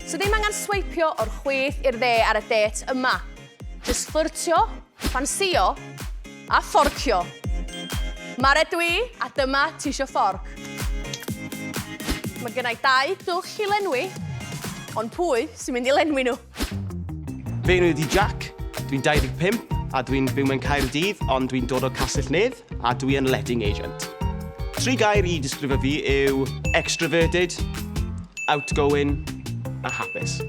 So ddim angen sweipio o'r chwith i'r dde ar y det yma. Just ffyrtio, ffansio a fforcio. Mae'r edw i, a dyma ti isio fforc. Mae gennau dau dwll i lenwi, ond pwy sy'n mynd i lenwi nhw? Fe enw i ydi Jack, dwi'n 25 a dwi'n byw mewn Caerdydd ond dwi'n dod o Castell Nedd. A dwi yn letting agent. Tri gair i disgrifio fi yw extraverted, outgoing a hapus.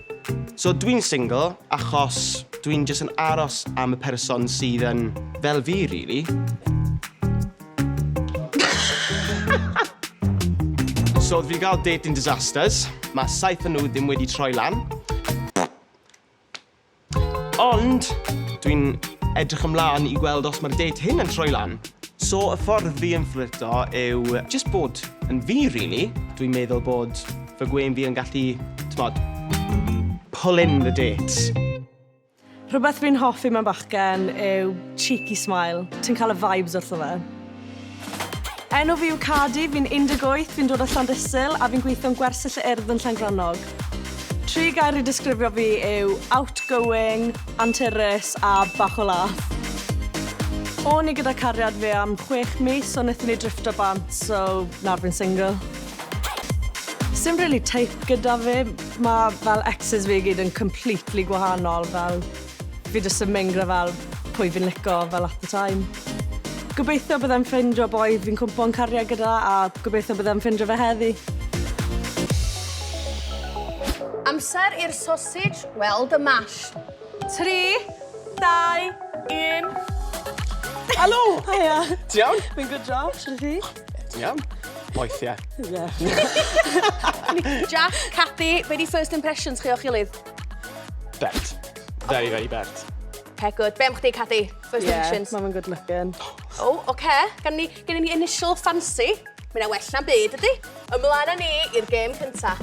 So dwi'n single achos dwi'n jyst yn aros am y person sydd yn fel fi rili. So fi wedi cael dating disasters. Mae saith o nhw ddim wedi troi lan. Ond, dwi'n edrych ymlaen i gweld os mae'r date hyn yn troi lan. So, y ffordd fi yn fflirto yw just bod yn fi, really. Dwi'n meddwl bod fy gwên fi yn gallu, tmod, pull in the dates. Rhywbeth fi'n hoffi mewn bachgen yw cheeky smile. Ti'n cael y vibes wrtho fe. Enw fi yw Cardi, fi'n 18, fi'n dod o Llandysul a fi'n gweithio'n gwersyll y urdd yn Llangrannog. Tri gair i disgrifio fi yw outgoing, anturus a bach o laff. O'n i gyda cariad fi am chwech mis ond nethon ni drifftio bant so nawr fi'n single. Sim rili type gyda fi, ma' fel exes fi i gyd yn completely gwahanol fel Fi jyst yn mengra fel pwy fi'n lico fel at the time. Gobeithio byddai'n ffeindio boi fi'n cwmpo'n cariad gyda a gobeithio byddai'n ffeindio fe heddi. Amser i'r sosij weld y mash. Tri, dau, un. Helo! Haia! Ti iawn? Fi'n good diolch, shwt 'y ti? Ti'n iawn? Moethie. Ie. Jac, Cathy, be' 'di first impressions chi o'ch gilydd? Bert. Very, very bert. Okay, good. Be am chdi, Cathy? First yeah, impressions. Yeah, mae'n good looking. O, oh, oce. Okay. Gan ni, gen ni initial fancy. Mae'n well na byd, ydy? Ymlaen â ni i'r gêm cynta.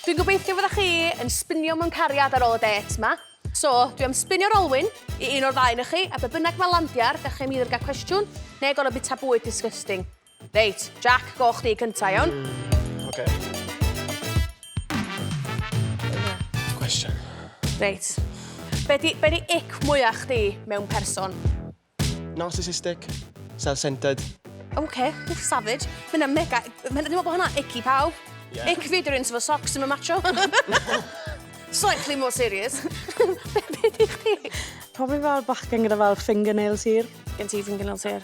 Dwi'n gobeithio fydda chi yn spinio mewn cariad ar ôl y det yma. So, dwi am spinio'r olwyn i un o'r ddau na chi, a be bynnag mae landiar, da chi'n mynd i'r gael cwestiwn, neu gorau bita bwyd disgusting. Reit, Jack, go chdi cynta, iawn? Mm, oce. Question. Reit. Be di, be di ic mwyach chdi mewn person? Narcissistic, self-centered. Oce, okay, wff, savage. Mae'n yna mega... Mae'n meddwl bod hwnna icky pawb. Yeah. Ic fi dwi'n sefo socks yn y macho. Slightly more serious. Be di chdi? Probably fel bachgen gyda fel fingernails hir. Gen ti fingernails hir?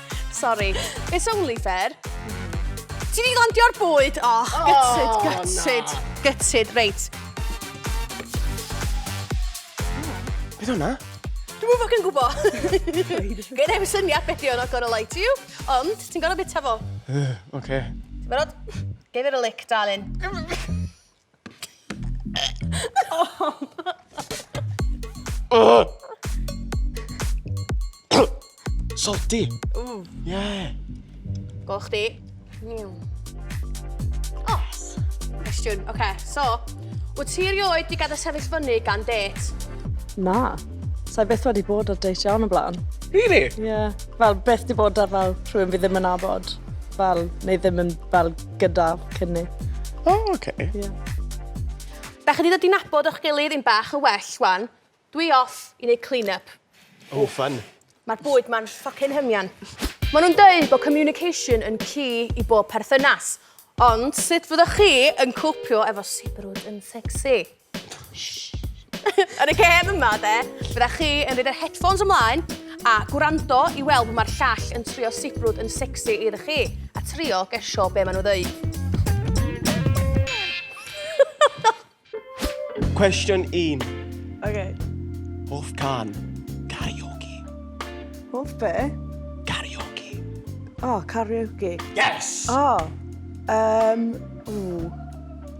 Sorry. It's only fair. Ti di landio'r bwyd! Oh, oh gutted, gutted, na. gutted, reit. Beth hwnna? Dwi'n mwyn ffocin gwbo. Gyd efo'r syniad beth yw, not gonna lie to you. Ond, ti'n gorau bita fo. Oce. Okay. Ti'n barod? Give it a lick, darling. Salty. Ww. Yeah. Gol chdi. Miw. O, cwestiwn. Oce, okay, so, wyt ti erioed di gadael sefyll fyny gan det? Na. Sa'i beth wedi bod ar date iawn o blaen. Really? Ie. Yeah. Fel, beth di bod ar fel rhywun fi ddim yn abod. Fel, neu ddim yn fel gyda cynni. O, oh, oce. Okay. Yeah. Da chi wedi dod i nabod o'ch gilydd yn bach yn well, wan. Dwi off i wneud clean-up. Oh, fun. Mae'r bwyd ma'n ffocin hymian. Maen nhw'n dweud bod communication yn key i bob perthynas. Ond sut fyddwch chi yn cwpio efo sibrwd yn sexy? Yn y gêm yma de, fydda chi yn rhaid yr headphones ymlaen a gwrando i weld mae'r llall yn trio sibrwd yn sexy iddo chi a trio gesio be maen nhw ddeud. Cwestiwn 1. Okay. Hoff can. Karaoke. Hoff be? Karaoke. Oh, karaoke. Yes! Oh. Um, ooh.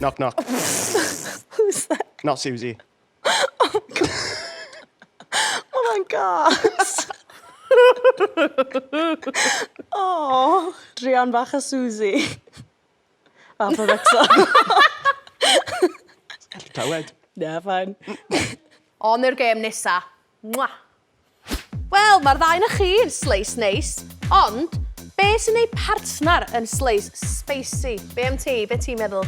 Knock knock. Who's that? Not Susie. Oh god. Mae hwnna'n gas. oh, Drian bach a Susie. A pa fecsa. Tawed. Na, fain. On i'r gêm nesa. Mwah! Wel, mae'r ddau na chi yn sleis neis, ond be sy'n ei partner yn sleis spicy? Be am ti? Be ti'n meddwl?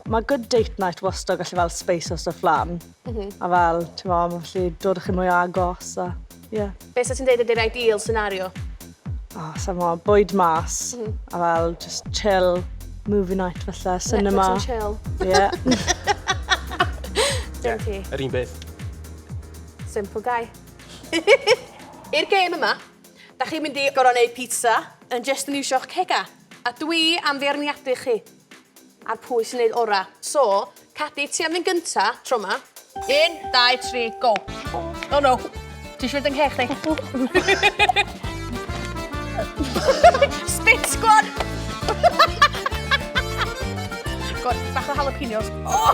Mae good date night wastad gallu fel speisio stwff lan. Mm -hmm. A fel, ti'n mo, mae'n gallu dod â chi mwy o agos a, ie. Yeah. Be sa ti'n deud ydy'r ideal scenario? O, sa i'n gwybod, bwyd mas a fel just chill, movie night falle, cinema. Netflix and chill. Ie. Dim ti. Yr un beth. Simple guy. I'r gêm yma, da chi'n mynd i gorfod neud pizza yn jyst yn iwsio'ch cegau, a dwi am feirniadu chi. Ar pwy sy'n neud ora. So, Cadi, ti am fynd gynta, tro ma. Un, dau, tri, go. Oh no. Ti eisiau fynd yng nghech chdi? Spit squad! God, bach o jalapenos. Oh!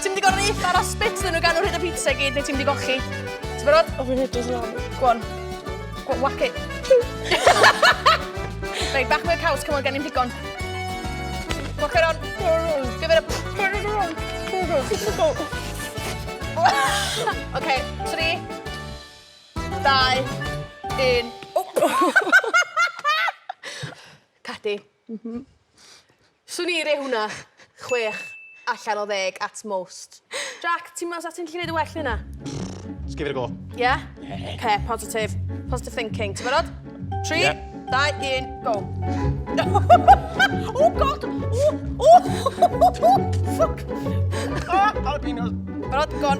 Ti'n mynd i gorau eitha ar a spit dyn nhw gan o'r hyn o pizza gyd, neu ti'n mynd i gochi? Ti'n barod? O, fi'n hyd o ddyn Go on. Whack it. Rhaid bach mwy caws, cymwyd gen i'n digon. Whack it on. Give it a... Oce, tri, dau, un. Cadi. M-hm. Swn i roi hwnna chwech allan o ddeg at most. Jac, ti'n meddwl sa ti'n gallu neud yn well na hynna? Jyst give it a go. Ie? Oce, positif. Positive thinking. Ti'n barod? Tri, dau, un, go. O god! O! O! Ffwc! O! Jalapenos. Barod, go on.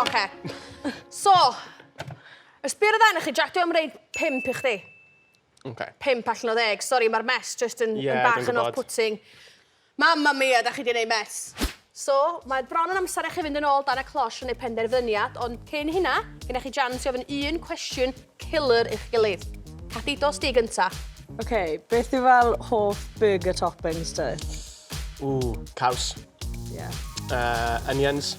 Oce. So, ysbio ar y dde'n chi, Jack, dwi am reid pimp i chdi. Oce. Pimp allan o ddeg. Sori, mae'r mes just yn, yeah, yn bach yn off-putting. Mamma mia, da chi di neud mes. So, mae bron yn amser i chi fynd yn ôl dan y closh yn ei penderfyniad, ond cyn hynna, gyda chi jans i ofyn un cwestiwn killer i'ch gilydd. Cathy, dos di gynta. Oce, okay, beth yw fel hoff burger toppings ti? Ww, caws. Ie. Yeah. Uh, onions.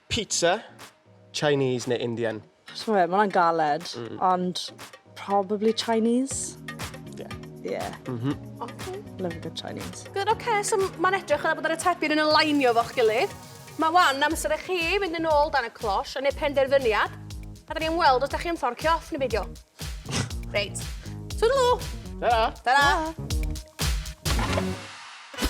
Pizza, Chinese neu Indian? Chimod be, mae hwnna'n galed, ond probably Chinese. Yeah. Yeah. Mhm. Oce. Love a good Chinese. Good, oce, so mae'n edrych fel bod yr atebion yn alignio efo'ch gilydd. Mae wan amser i chi fynd yn ôl dan y closh a wneud penderfyniad, a da ni am weld os da chi am fforcio off neu beidio. Reit. Twdlw! Ta-ra! Ta-ra!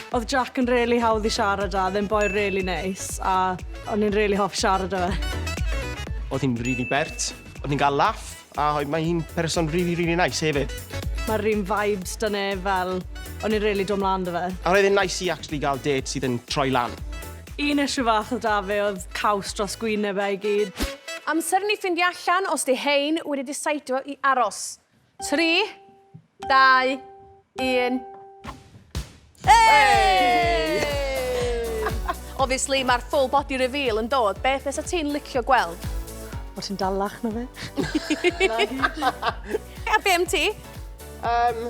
Oedd Jack yn rili really hawdd i siarad â, ddim boi rili really neis, a o'n i'n rili really hoffi siarad â fe. Oedd hi'n rili bert, oedd hi'n cael laff, a mae hi'n person rili, rili nais hefyd. Mae'r un vibes da ne fel, o'n i'n rili dod mlaen da fe. A roedd e'n nais i actually gael dêt sydd yn troi lan. Un issue fach oedd 'da fi oedd caws dros gwyneb e i gyd. Amser i ni ffindio allan os 'di hein wedi diseidio i aros. Tri, dau, un. Hey! Obviously, mae'r full body reveal yn dod. Beth fysa ti'n licio gweld? Bod ti'n dalach na fe. A be am ti? Um,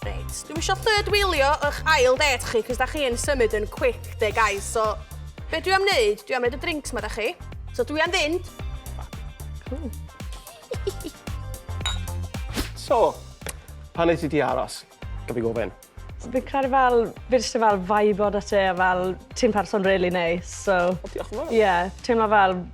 Reit, dwi'm isio third wheelio ych ail det chi, cos da chi yn symud yn quick de guys, so be dwi am wneud, dwi am wneud y drinks ma da chi. So dwi am fynd. Cool. so, pan nes i di aros, gaf i gofyn? So, fi'n credu fel, fi'n just fel vibe o da ti, a fel, ti'n person really nice, so... O, diolch yn fawr. Ie, yeah, teimlo fel